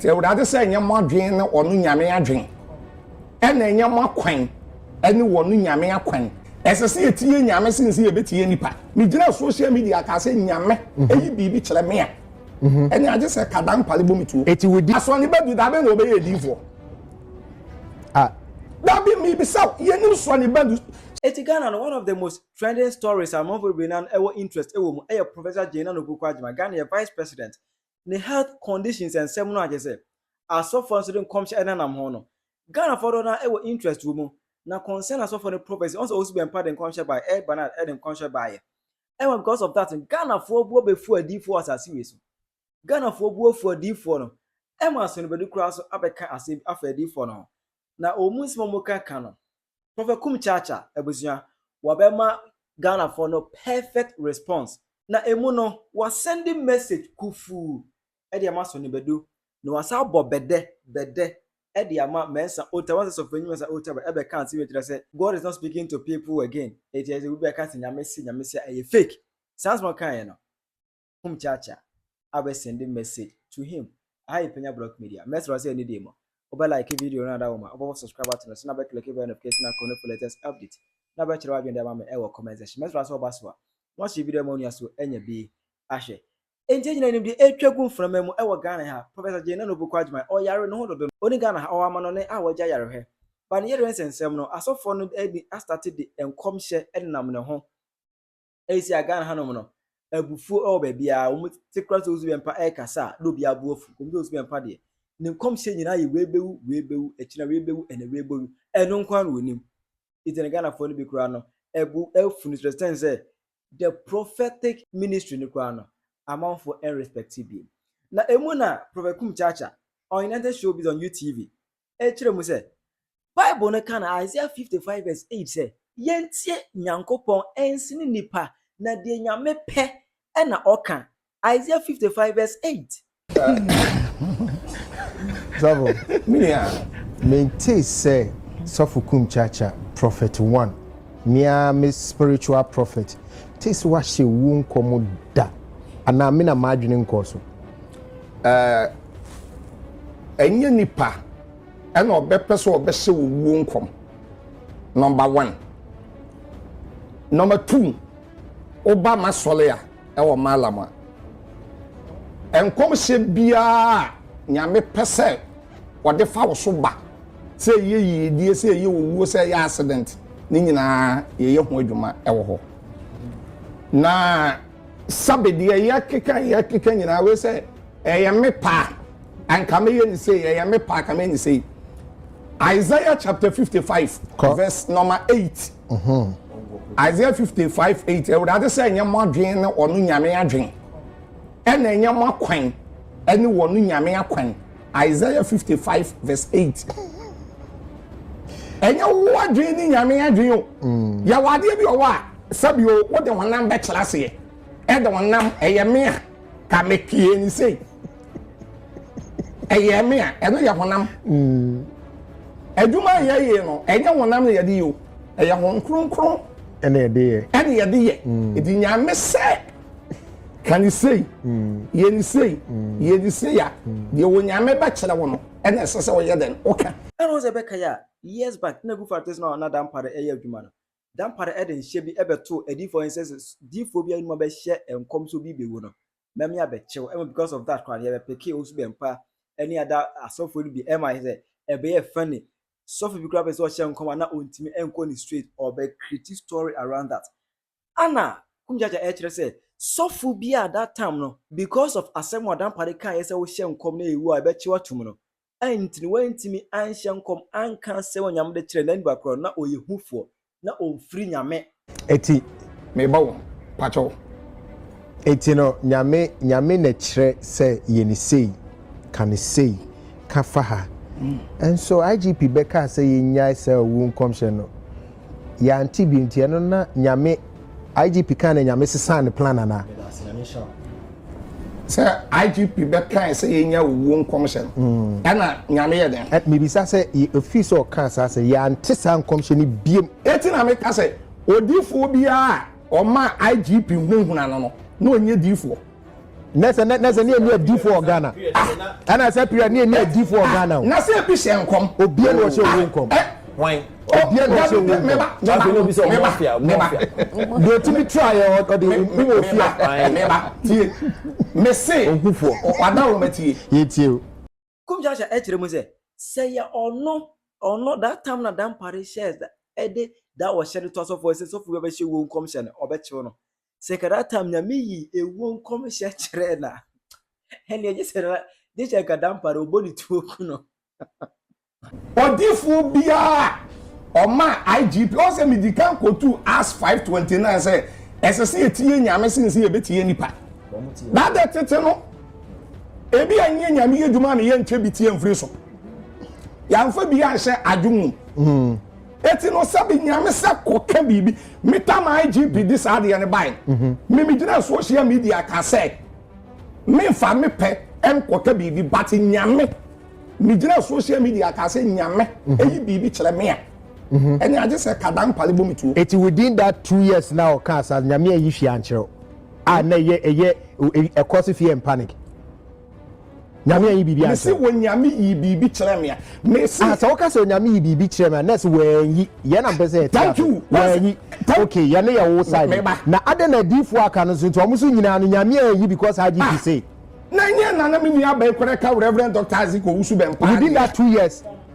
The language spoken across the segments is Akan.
Sɛ Awurade sɛ ɛnyɛ mo adwene ne ɔno Nyame adwene, ɛna ɛnyɛ mo akwan ne ɔno Nyame akwan. Ɛsɛ sɛ yɛtie Nyame sen sɛ yɛbɛtie nnipa. Megyinaa social media kaa sɛ Nyame ɛyi biribi kyerɛ me a, ɛne agye sɛ ka dampare bɔ me tuo. Eti wodi. Asɔre ba bi da bɛn na ɔbɛyɛ adiifoɔ? Ah. Dabi, mebisa wo, yɛnim sɔre ba bi. Eti Ghana no one of the most trending stories a amanfo bebree nan ɛwɔ interest ɛwɔ mu ɛyɛ Professor Jane Nana Opoku Agyemang, Ghana yɛ Vice President ne health conditions nsɛm no a kyerɛ sɛ asɔfoɔ nso de nkɔmhyɛ ɛnenam ho no Ghanafoɔ dodoɔ no ara ɛwɔ interest wɔ mu na concern asɔfoɔ no prophecy ɔn sɛ ɔsi bɛn pa de nkɔmhyɛ baeɛ ɛyɛ Bernard ɛde nkɔmhyɛ baeɛ ɛma because of that Ghanafoɔ bu abɛfu adiifoɔ asase wei so Ghanafoɔ bu afu adiifoɔ no ɛma asɔnnibɛdu koraa so abɛka asɛm afa adiifoɔ no ho na ɔmu nsɛm a wɔka ka no Prophet Kum Kyaakya abusua wɔbɛma Ghanafoɔ no perfect response na ɛmu no wɔasɛnde message kufuu de ama Sonny Badu na wɔasan abɔ bɛdɛ bɛdɛ de ama Mensah Ota wɔn sɛ Sɔfoɔnyi Mensah Ota bɛ ɛbɛka nsɛm yi kyerɛ sɛ God is not speaking to people again ɛti ɛsɛ obi bɛka sɛ Nyame se Nyame se a ɛyɛ fake saa nsɛm a ɔkaeɛ no hom kyeakyea a bɛ sɛnde message to him, aha yɛ Panya Block Media, mɛserɛ wo sɛ ne deɛ mu a wobɛ like video no ada wo ma wobɔbɔ subscribe button no so na bɛ click bell notification icon no for latest update na bɛ kyerɛ w'adwene de ama me wɔ comment section mɛserɛ wo sɛ woba so a na wahyɛ video ama onua so anya bi ahwɛ. Enti yɛn nyinaa nim deɛ ɛretwa gu mframa mu wɔ Ghana ha, Professor Jane Nana Opoku Agyman, ɔyare, ne ho dodo no, ɔnni Ghana ha, ɔwɔ amanɔne a wɔagye ayarehwɛ. Ba ne yere nsɛnsɛm no, asɔfoɔ no ani astate de nkɔmhyɛ nenam ne ho. ɛsi a Ghana hanom no abufuo wɔ baabiara wɔn te kora sɛ osu bɛmpa ɛkasa a na obi abo afu wɔn sɛ osu bɛmpa deɛ ne nkɔmhyɛ nyinaa yɛ wei bɛwu wei bɛwu ɛkyina wei bɛwu ɛna wei bɛwu ɛno nko ara na wɔnim nti na Ghanafoɔ no bi koraa no ɛbu ɛfu no sɛ sɛn sɛ the prophetic ministry no koraa no amanfoɔ ɛnrespect bi na emu na Prophet Kum Chacha on United Showbiz on UTV ɛkyerɛ mu sɛ, Bible no ka no Isaiah 55 vs 8 sɛ, yɛntie Nyankopɔn ɛnsene nnipa, na deɛ Nyame pɛ ɛna ɔka. Isaiah 55 vs 8. Sɔfo, mentee sɛ Sɔfo Kum Kyaakya, Prophet One, me ara me spiritual prophet, tee sɛ wahyɛ owuo nkɔm da, anaa me na m'adwene nkɔɔ so? Ɛɛ, ɛnyɛ nipa ɛna ɔbɛpɛ sɛ ɔbɛhyɛ wo wuo nkɔm. Nɔmba wan. Nɔmba tuu, woba m'asɔre a ɛwɔ Maalam a, nkɔmhyɛ biara a Nyame pɛ sɛ ɔde fa wo so ba, sɛ ɛyɛ yiedie, sɛ ɛyɛ owuo, sɛ ɛyɛ accident, ne nyinaa yɛyɛ ho adwuma ɛwɔ hɔ. Na. Sabe, deɛ yɛkeka yɛkeka nyinaa wei sɛ ɛyɛ me paa anka meyɛ ne sei ɛyɛ me paa ka meyɛ ne sei Isaiah chapter 55 verse number 8 mm -hmm. Isaiah 55 8 awurade sɛ ɛnyɛ mo adwene ne ɔno nyame adwene ɛna ɛnyɛ mo akwan ɛne wɔn nyame akwan Isaiah fifty five verse eight. Ɛnyɛ wo adwene ne Nyame adwene o. Mm. Yɛwɔ adeɛ bi ɔwɔ a sɛbio wode honam bɛkyerɛ aseɛ. Ɛde honam ɛyɛ me a ka mepie ne sei. Ɛyɛ me a ɛno yɛ honam. Mm. Adwuma a yɛyɛ no ɛnyɛ honam na yɛde yɛ o. Ɛyɛ hon kronkron. Ɛna yɛde yɛ. Ɛna yɛde yɛ. Ɛdi mm. Nyame sɛ. ka ne sei yɛ ne sei yɛ ne sei a deɛ onyame bɛkyerɛ wo no ɛna ɛsɛ sɛ ɔyɛ dɛn woka ɛna wo sɛ ɛbɛka yɛ a years back na gufar tese no a na dampare ɛyɛ adwuma no dampare ɛde nhyɛ bi ɛbɛtoo adiifo ɛn sɛ diifo bi anuma bɛhyɛ nkɔm so bi bɛwu no mɛme abɛkyew ɛma because of that koraa no yɛbɛpeke osu bɛmpa ɛne ada asɔfo no bi ɛma sɛ ɛbɛyɛ funny sɔfo bi koraa bɛ sɛ ɔhyɛ nkɔm a na ɔntumi ɛnkɔ ne straight ɔbɛ create story around that Ana Kum Gyagya ɛkyerɛ sɛ sɔfo bi a that time no because of asɛm a Dampare kaeɛ sɛ wohyɛ nkɔm na ɛwu a ɛbɛkyew atom no nti no wantumi anhyɛ nkɔm anka asɛm a Nyame de kyerɛɛ Naniba korɔ no na ɔyɛ hufoɔ na ɔmfiri Nyame Eti meba wo pakyɛw. Eti no Nyame Nyame na kyerɛ sɛ yɛ no sei, ka no sei, ka fa ha. Nso IGP bɛkaa sɛ yɛnnyae saa owu nkɔmhyɛ no. yɛante bi nti ɛno na nyame igp kan na nyame sesaa ne plan anaa sɛ igp bɛkae sɛ yɛnya owuo nkɔmhyɛ no mm. ɛna nyame yɛ dɛn mebisa sɛ ɛfii sɛ ɔkaa saa sɛ yɛante saa nkɔmhyɛ no biam ɛti na meka sɛ odifoɔ biara a ɔma igp hunahuna no no na ɔnyɛ difoɔ na sɛ na sɛ ne yɛ ne adifo wɔ ghana ah. ɛna sɛ pira ne yɛ ne adifo wɔ ah. ghana o na sɛ ebi hyɛ nkɔm obia na ɔhyɛ owu nkɔm eh. wan obia na ɔhyɛ owu nkɔm afei na obi sɛ ɔmo afia ɔmo afia deɛ otimi tra yɛ ɔde owu ofia tie mese ohufoɔ wada wɔn atie yɛ tie o. Kum Jansha ɛkyerɛ mu sɛ, sɛ yɛ ɔno, ɔno, that time na Dampare hyɛɛ da, ɛde da ɔhyɛ no to asɔfoɔ sɛ sɔfo bi abɛhyɛ wuo nkɔmhyɛ no, ɔbɛkyew no. Sɛ ka that time Nyame yii ewuo nkɔmhyɛ kyerɛɛ no a, ɛnneɛ gye sɛ na, gye sɛ nka Dampare ɔbɔ ne tuo ku no. Odiyifoɔ biara a ɔmaa IGP, ɔn sɛ medi kan kɔtuu Acts five twenty nine sɛ ɛsɛ sɛ yɛtie Nyame sene sɛ yɛbɛtie nnipa. That tete no, Ebia nyɛ nyame yɛ dwuma na yɛnkyɛ bi tie mfiri so. Yɛamfa bi anhyɛ adwo mu. Hmm. Eti no sɛ bi nyame sɛ kɔka biribi. Metam IGP de saa adeɛ no bae. Mhm. Me megyina social media ka sɛ memfa me pɛ nkɔka biribi but nyame megyina social media ka sɛ nyame mhm. ɛyi biribi kyerɛ me a mhm. ɛne agye sɛ kadan pale bɔ me tuo. Eti within that two years na ɔka sa nyame ayi hwee ankyerɛw. a na ɛyɛ ɛyɛ ɛkɔ so fear and panic nyame ayi biribi akyerɛ mesi wɔ nyame yi biribi kyerɛ me a mesi ah sɛ woka sɛ onyame yi biribi kyerɛ me a nɛs wɔanyi yɛn na mpɛ sɛ yɛte thank you wɔanyi ok yɛn ne yɛ wo side na adɛn na adiifoɔ aka no so nti wɔn so nyinaa no nyame ayi because hagye fi ah, se na nyɛ nana me nua abɛn kora ka reverend dr isaac owusu bɛn paa within that two years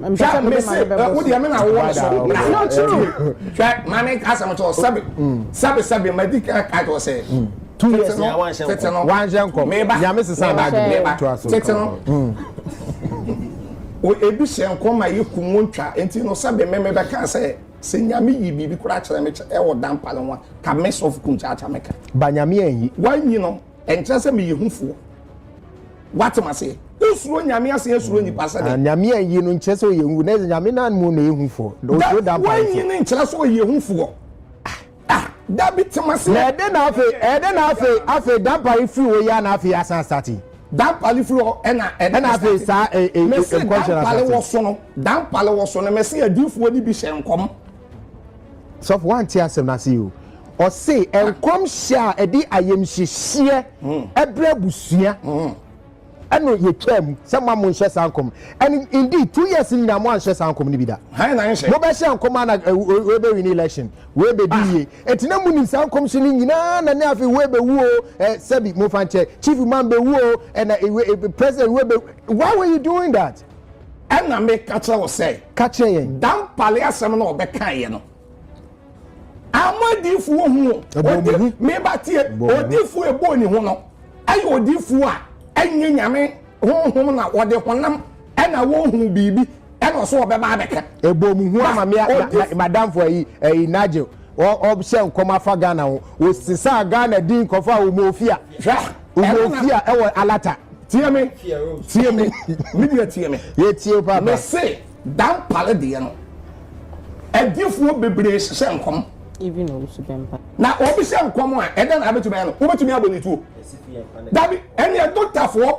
hwɛ mese wo deɛ me na wowɔ ne so not true hwɛ maame asɛm tɔ sɛbe sɛbe sɛbe madi kae tɔ sɛ two years na wanhyɛ nkɔm tete no wanhyɛ nkɔm meba nyame sesa n'adwene meba tete no ebi hyɛ nkɔm a yɛ kum wɔn twa nti no sɛbe me meba kan sɛ sɛ nyame yi biribi koraa kyerɛ me kyɛ ɛwɔ dampa no ho a ka me sɔfo kum kyakya me ka ba nyame anyi wanyi no Ɛnkyerɛ sɛ meyɛ hufoɔ. Woatem aseɛ? Wosuro Nyame asen asuro nnipa sɛdeɛ. Ah, Nyame anyi no nkyerɛ sɛ ɔyɛ hu. Na Nyame no anmu na ɛyɛ hufoɔ. Ɔsuro da mpa nti. Wanyi no nkyerɛ sɛ ɔyɛ hufoɔ. Ah, da bi tem aseɛ. Na ɛdɛ na afei, ɛdɛ na afei, afei dampare firi hɔ yi a na afei asan asate. Dampare firi hɔ ɛna ɛdɛ na afei saa nkɔnhyɛ na asate. Mese dampare wɔ so no, dampare wɔ so no, mese adiifoɔ no bi hyɛ nkɔm. sɔfo wante asɛm no ase o ɔse nkɔmhyɛ a ɛde ayamhyehyeɛ hmm. ɛbrɛ abusua hmm. ɛno yɛtwa mu sɛ ma mo nhyɛ saa nkɔm and indeed two years nyinaa mo anhyɛ saa nkɔm no bi da mobɛhyɛ nkɔm ana webɛwin election webɛdi ah. yie ɛti na monim saa nkɔmhyɛ no nyinaa na ne afei webɛwu o eh, sɛbi mofa nkyɛ chief man bɛwu o ɛna eh, eh, president webɛwu why were you doing that Ɛna me ka kyerɛ wo sɛ. Ka kyerɛ yɛn. Dan pale asɛm na ɔbɛ kan yɛ no. Ama diifu wo hu o. Odi me ba tie. Odiifu ebo ni ho no. Ɛyɛ odiifu a ɛnyɛ nyame honhom na ɔde honam ɛna wɔhu biribi ɛna ɔso ɔbɛba abɛka. Ebo mu hu ama me madamfo ayi ayi Nigel. ɔhyɛ nkɔm afa ghana ho ɔsesaa ghana din kɔfa a ɔmɔfia ɔmɔfia ɛwɔ alata tie me tie me me nua tie me yɛtie papa me se dampale deɛ no adifoɔ bebree hyehyɛ nkɔm even obi so bɛ mpa na obi hyɛ nkɔm a ɛdɛ na abɛtumi ayɛ no wobɛtumi abɔ ne tuo dabi ɛneɛ dotafoɔ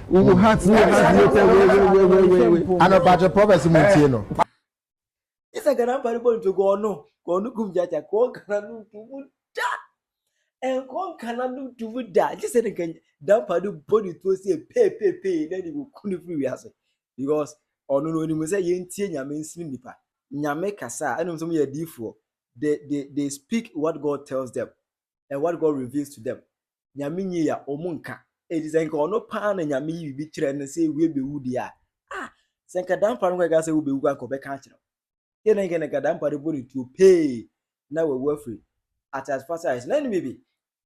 Wo wo heart ne your heart later wei wei wei wei wei wei. Ano patro prophecy mu ntie no. Isa gana mpare bɔ nto kɔɔ no kɔɔ no kum gyaagya kɔɔ gana no nto mu da nkɔɔ nkana no nto mu da gye sɛ ne nka dampa no bɔ ne tuo sɛ peepepee na ne wɔku no firi wiase because ɔno no ɔnim sɛ yɛntie nyame nsini nipa nyame kasa a ɛnom sɛ mo yɛ adiifoɔ they, they, they speak what God tells them and what God reveals to them Nyame nyi a ɔmo nka. Eti sɛ nka ɔno paa na Nyame yi biribi kyerɛ no sɛ ewie bewu deɛ a, ah, sɛ nka dampa no kɔka sɛ wobewu kora nka ɔbɛka akyerɛ wo. Yɛ na nka nka dampa no bɔ ne tuo pee na wawu afiri atease pasaa so. Na ɛne biribi,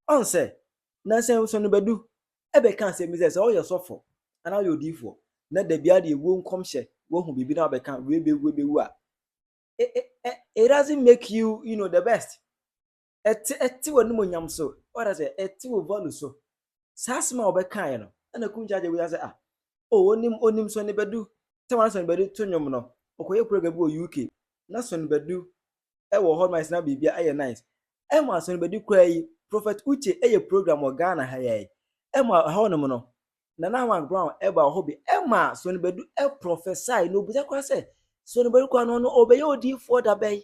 ɔn sɛ, na sɛ nso no bɛdu ɛbɛka asɛm bi sɛ sɛ ɔyɛ sɔfo anaa ɔyɛ odiifoɔ na da biara deɛ ewuo nkɔmhyɛ wahu biribi na ɔbɛka wei bewu wei bewu a, it, it, it doesn't make you, you know, the best. ɛte ɛte w'animuonyam so ɔda sɛ ɛte wo value so saa asɛm a wɔbɛkaeɛ no ɛna kum kyagye wia sɛ ah o oh, onim onim sɔne bɛdu sɛ wɔn sɔne bɛdu to nnwom no ɔkɔyɛ program bi wɔ uk na sɔne bɛdu ɛwɔ hɔ nice na biribi ayɛ nice ɛma sɔne bɛdu koraa yi prophet uche ɛyɛ program wɔ ghana ha yɛ ɛma ɛhɔ nom no nana mark brown ɛba wɔ hɔ bi ɛma sɔne bɛdu ɛprofesai na obisa koraa sɛ sɔne bɛdu koraa no no ɔbɛyɛ odiifoɔ dabɛn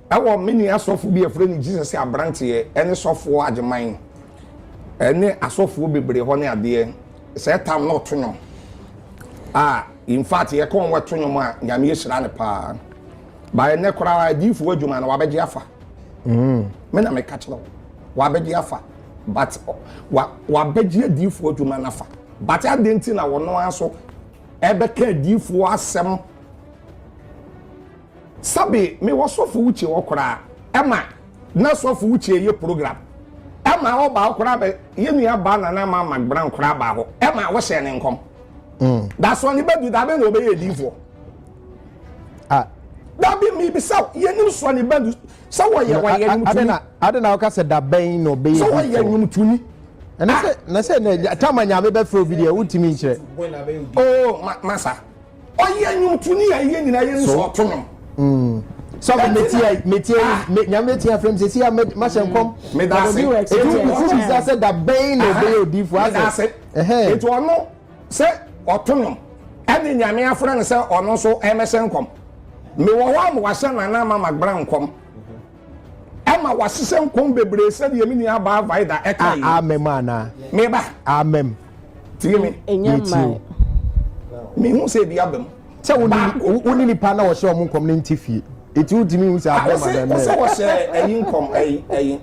Ɛwɔ me nua sɔfo bi a yɛfrɛ no Jesus a abranteɛ ɛne sɔfoɔ agyeman ɛne asɔfoɔ bebree hɔ ne adeɛ sɛ ɛtam na ɔto nwom a in fact yɛkɔ wɔn ɛto nwom a nyame ahyira no paa ba ɛnɛ koraa adiifoɔ adwuma no wabɛgye afa mm. me na meka kyerɛ wo wabɛgye afa but wabɛgye adiifoɔ adwuma no afa but adɛn nti na wɔno ara so ɛbɛka adiifoɔ asɛm Sɛbe me wɔ sɔfo Uche hɔ koraa ɛma na sɔfo Uche ɛyɛ program ɛma ɔba hɔ koraa bɛ yɛ nua baa Nana Ama Magbran koraa baa hɔ ɛma wɔ hyɛɛ ne nkɔm mm. Dasoɔ ne badu da bɛ na ɔbɛyɛ ɛdiifoɔ ah. Dabi mi bisa yɛ nim soɔ ne badu sɛ wɔyɛ wɔyɛ nyumtuni ade na ɔka sɛ da bɛn na ɔbɛyɛ ɛdiifoɔ sɛ wɔyɛ nyumtuni ɛnɛ sɛ na sɛ na tama nyame bɛfrɛ obi deɛ wotumi nkyerɛ oh ma, masa ɔyɛ nnwomtoni a ɛyɛ nyinaa yɛ nso ɔto nwom sɔfo metia metia ah. me nyame atia frem sɛ sia mahyɛ nkɔm mm. medase ɛti wokufu bisa sɛ da bɛn na ɔbɛyɛ odiifo asɛ ɛti ɔno sɛ ɔto nom ɛne nyame afrɛ no sɛ ɔno nso ɛmɛhyɛ nkɔm mewɔ hɔ a mewahyɛ nana ama magbra nkɔm Ɛma wɔahyehyɛ nkɔm bebree sɛdeɛ me nua baa Vaida ɛka yi. Amem anaa? Me ba. Amem. Tie me. Ɛnyɛ mmaa. Mehu sɛ ebi aba mu. Sɛ wo ne nipa na wɔhyɛ wɔn nkɔm ne nti fie. Eti wo tumi hu sɛ ah, abɛma bɛmɛ. Ɔsɛ wɔhyɛ ɛyi nkɔm ɛyi ɛyi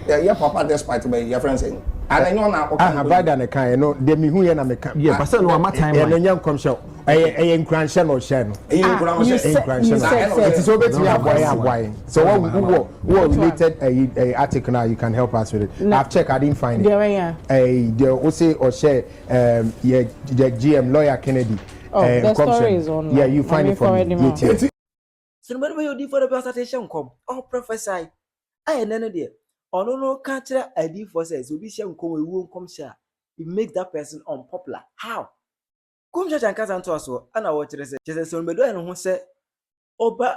ɛyɛ papa despite bɛyi yɛ fɛn sɛ ananyɛ ɔna ɔka. Aha Vaida na ɛka yɛ no deɛ mehu yɛ na meka. Yɛ pasɛ no ama time. Ɛno nyɛ nkɔmhyɛ. ɛyɛ ɛyɛ nkuranhyɛ na ɔhyɛ no ɛyɛ ah, nkuranhyɛ nkuranhyɛ na ɛti sɛ obetumi aboa yɛn aboa yɛn sɛ wɔ wɔ wɔ related ɛyi eh, ɛyi eh, article na you can help us with it i've checked i didn't find it ɛyi eh, deɛ o se ɔhyɛ ɛɛm yɛ yɛ gm lawyer kennedy ɛɛ nkɔmhyɛ yeah you find it for me yɛ tiɛ. sinimani bɛ yɛ odi fɔlɔ bi ɔsate hyɛ nkɔm ɔho prɔfɛsai ayɛ nɛ no deɛ ɔno no ka kyerɛ adiifo sɛ sɛ obi hyɛ nkɔm ewuo nkɔmhyɛ a it makes that person unpopular how. Kum Church ankasa ntoasoɔ ana wɔkyerɛ sɛ kyerɛ sɛ Sɔn bɛdɔɛ ne ho sɛ ɔba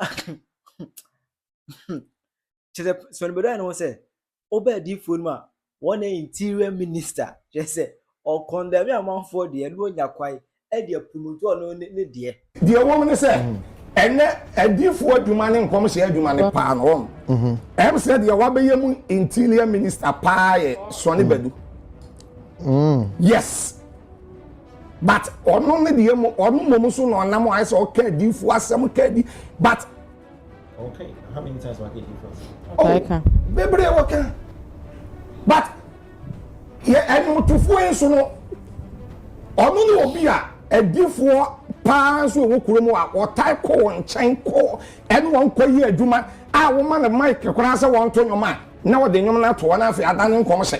kyerɛ sɛ Sɔn bɛdɔɛ ne ho sɛ ɔba adiifoɔ no mu a wɔn na interior minister kyerɛ sɛ ɔkɔndɛme amanfoɔ deɛ ne ɔnya kwae ɛde apunutu ɔno ne deɛ. Deɛ ɛwɔ mu ne sɛ ɛnɛ adiifoɔ adwuma ne nkɔmhyɛ adwuma ne paa no wɔn ɛm sɛ deɛ wabɛyɛ mu interior minister paa yɛ Sɔn Bɛdu. Mm. Yes. But ɔno ne deɛ mu ɔno mmom so na ɔnam ayɛ sɛ ɔka adiifoɔ asɛm ka adi but. Okay, how many times waka adiifoɔ asɛm? Oh, bebree wɔka. But yɛ ɛnwotofoɔ yi nso no ɔno ne obi a adiifoɔ paa nso wɔ kurom a wɔtae kɔ wɔn nkyɛn kɔ ɛne wɔn kɔ yi adwuma a wɔma no mic koraa sɛ wɔnto nnwom a na wɔde nnwom no ato hɔ na afei ada ne nkɔmhyɛ.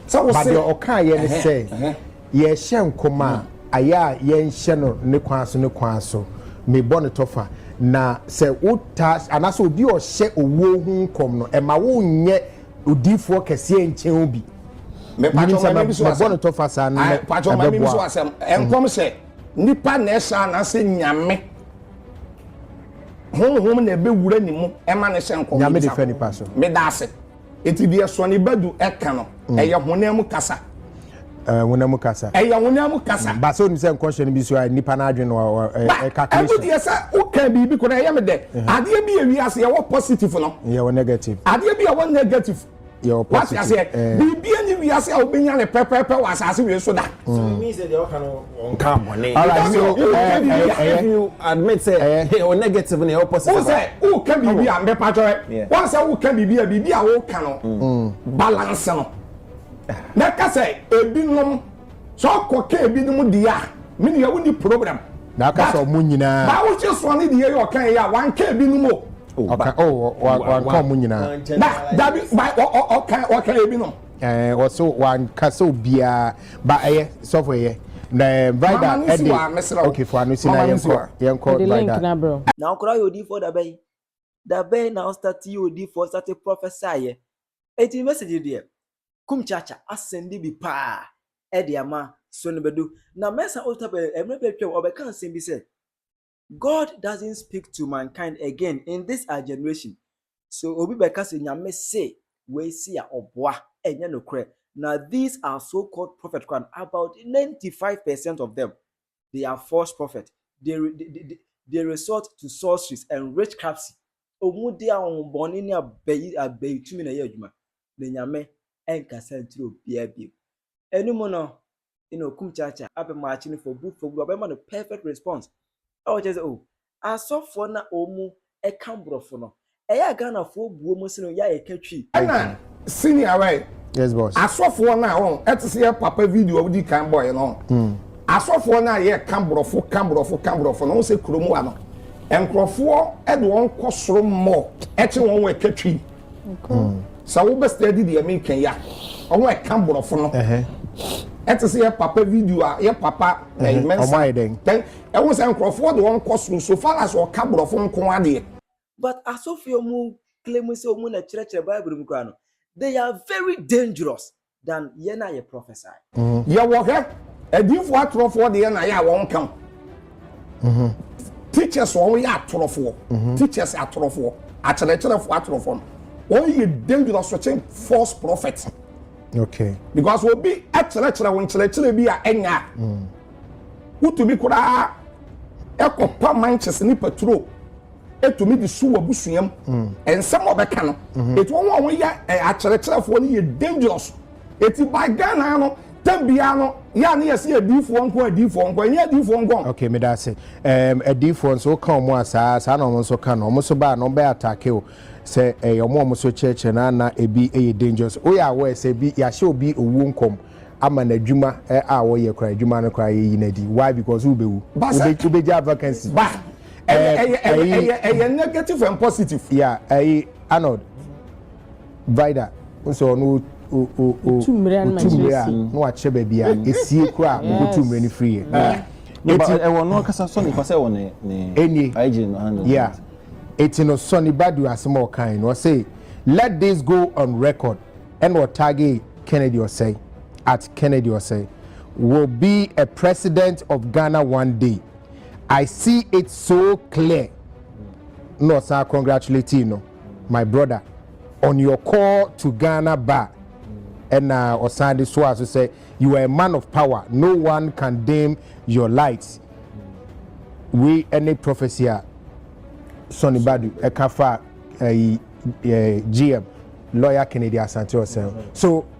Ba deɛ ɔkaeɛ ne sɛ, Yɛrehyɛ nkɔm a, ayɛ a yɛnhyɛ no ne kwan so ne kwan so. Mebɔ no tɔfa. Na sɛ wotaa, anaasɛ obi a ɔhyɛ owuo ho nkɔm no, ɛma wonyɛ odiyifoɔ kɛseɛ nkyɛn wo bi. Menim sɛ mɛbɔ no tɔfa saa no ɛbɛboa wo. Nkɔm sɛ nipa na ɛhyɛ anaasɛ Nyame? Honhom na ɛbɛwura ne mu ma no hyɛ nkɔm? Nyame de fa nipa so. Meda ase. Enti deɛ Sɔni Badu ɛka no, mm. ɛyɛ honam mu kasa. Eh, honam mu kasa. ɛyɛ honam mu kasa. Mm. baasa onim sɛ nkɔhyɛ no bi so a nipa n'adwene no ɛka kiri so. ɛmu deɛ sɛ woka biribi kora ɛyɛ mi dɛ mhm. adeɛ bi yɛ wi ase yɛwɔ positive no. yɛwɔ negative. adeɛ bi yɛwɔ negative. yɛwɔ positive. wati aseɛ eh. biribi yɛ ni wi ase a wobɛnya ne pɛpɛpɛ wɔ asase wei so da. so it means that yɛ ɔka no. Ɔnkaa bɔne. Alright so ɛ ɛ ɛyɛ. If you admit sɛ ɛyɛ o negative na ɛwɔ positive. Wọ́n sɛ wọ́n ka biribi a mbɛ pàtó ɛ wọ́n sɛ wọ́n ka biribi a biribi a wọ́n ka no balance no na ka sɛ ebi nom sɛ ɔkɔ ka ebi nom di a mi ni yɛ wọ́n ni problem. Na aka sɛ ɔmo nyinaa. Báwo ṣe sọ ni di yɛ yɛ ɔka yɛ yɛ a wọ́n aka ebi nom o. Ɔka o wọ́n aka ɔmo nyinaa. Na dabi ɔka ɔka ebi nom. ɛɛ wɔsɛ wanka sɛ obiara ba ɛyɛ sɔfo ɛyɛ na ɛɛ vida ɛde okay fo ano si na yɛn kɔ yɛn kɔ vida. Na wokora yɛ odiifoɔ da bɛn? Da bɛn na wo start yɛ odiifoɔ start prophesy yɛ? Eti message deɛ kum kyaakya asɛnde bi paa ɛde ama so no bɛdu na mɛsa otapɛ ɛmɛ bɛtwam ɔbɛka asɛm bi sɛ God doesn't speak to mankind again in this our generation so obi bɛka sɛ Nyame se wei se a ɔboa ɛnyɛ nokorɛ na these are so called prophet kora no about 95 percent of them they are false prophet they, they, they, they resort to sorceries and witchcrafts ɔmu de ahombɔne ne abayi abayitumi na ɛyɛ adwuma na Nyame ɛnkasa nkyerɛ obiara bio ɛno mu no ɛna okum kyaakyaa abɛ maakye no for good for good ɔbɛma no perfect response a ɔkyerɛ sɛ oh asɔfoɔ na wɔn ɛka borɔfo no ɛyɛ a Ghanafoɔ buo mu sene yɛ a yɛka twi. Ɛna senior wɛ yes boss asɔfoɔ no a wɔn ɛte sɛ yɛ papa video a wodi kan bɔɛ no hmm. asɔfoɔ no a yɛ ka borɔfo ka borɔfo ka borɔfo no wɔn sɛ kurom wa no nkurɔfoɔ ɛde wɔn kɔ soro mmɔ ɛkye wɔn wɔ ɛka twi. sɛ wobɛ study deɛ meka yi a ɔho ɛka borɔfo no ɛte sɛ yɛ papa video a yɛ papa ɛmɛnsa ɛho sɛ nkurɔfoɔ de wɔn kɔ soro so far as ɔka borɔfo nko adeɛ but asɔfie ɔmo claim sɛ ɔmo na kyerɛkyerɛ bible mu koraa no they are very dangerous than yɛn a yɛ prophesy. Mm-hmm. Yɛ wɔ hwɛ adiifoɔ atorɔfoɔ deɛ na yɛ a wɔn ka ho. Mm-hmm. Teachers wɔn yɛ atorɔfoɔ. Mm-hmm. Teachers atorɔfoɔ akyerɛkyerɛfoɔ atorɔfoɔ no wɔn yɛ dangerous kyen false prophet. Okay. Because obi akyerɛkyerɛ wɔn kyerɛkyerɛ bi a ɛnya a. Mm. Wotumi koraa ɛkɔ pa manches ne paturo. ɛtumi de su w'abusua mu nsɛm a ɔbɛka no ɛti wɔn a wɔyɛ akyerɛkyerɛfoɔ no yɛ dangerous ɛti by Ghana no tɛm biara no yɛ a ne yɛ sɛ adiifoɔ nko adiifoɔ nko ɛnyɛ adiifoɔ nko ok meda ase adiifoɔ nso woka wɔn a saa saa na wɔn nso ka no wɔn nso baa na wɔn bɛyɛ atake o sɛ ɛyɛ wɔn a wɔn nso kyerɛkyerɛ na na ebi yɛ dangerous woyɛ awɔ ɛsɛ bi yɛahyɛ obi owuo nkɔm ama n'adwuma a wɔyɛ kora adwuma no kora yɛyi n'adi why because wobɛwu wobɛgya vacancy ɛyɛ ɛyɛ ɛyɛ ɛyɛ negative and positive. ya ɛyi arnold vida n sɛ ɔno o o o otu mmiri a na wakyɛ baabi a esie kura a otu mmiri no firi yɛ. eti ɛwɔ no kasa sɔ nipa sɛ ɛwɔ ne ne ɛnie ɛgye no handle. ya eti no sɔ ne badu asɛm a ɔkan no ɔsɛ let this go on record ɛna ɔtaage kennedy ɔsɛe at kennedy ɔsɛe will be a president of ghana one day. I see it so clear na ɔsan congratulating no my brother on your call to Ghana bar ɛna ɔsan de soa so sɛ you are a man of power no one can dim your light wei ɛne prophecy a Sonny Badu ɛka fa ɛyi eh, GM lawyer Kennedy Asante Ɔsɛn so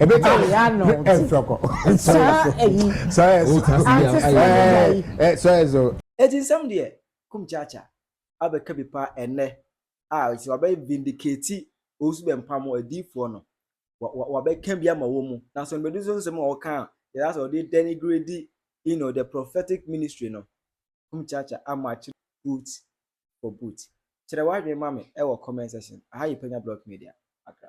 ebe ka ne ya no ti ɛsɔkɔ saa ɛyi ante sɛ ɛyɛ yi ɛsɔ ɛzɔ. Eti nsɛm deɛ kum kyaakya abɛka bi paa ɛnɛ a ɔsi wabɛ vindicate Owusu Bɛmpam adiifoɔ no wa wa wabɛka bi ama wɔn mu na so mbɛdu so nsɛm a ɔka a yɛ asɛ ɔde denigrate you know the prophetic ministry no kum kyaakya ama akyerɛ boot for boot kyerɛ wadwene ma me ɛwɔ comment section aha yɛ Panya Block Media Accra.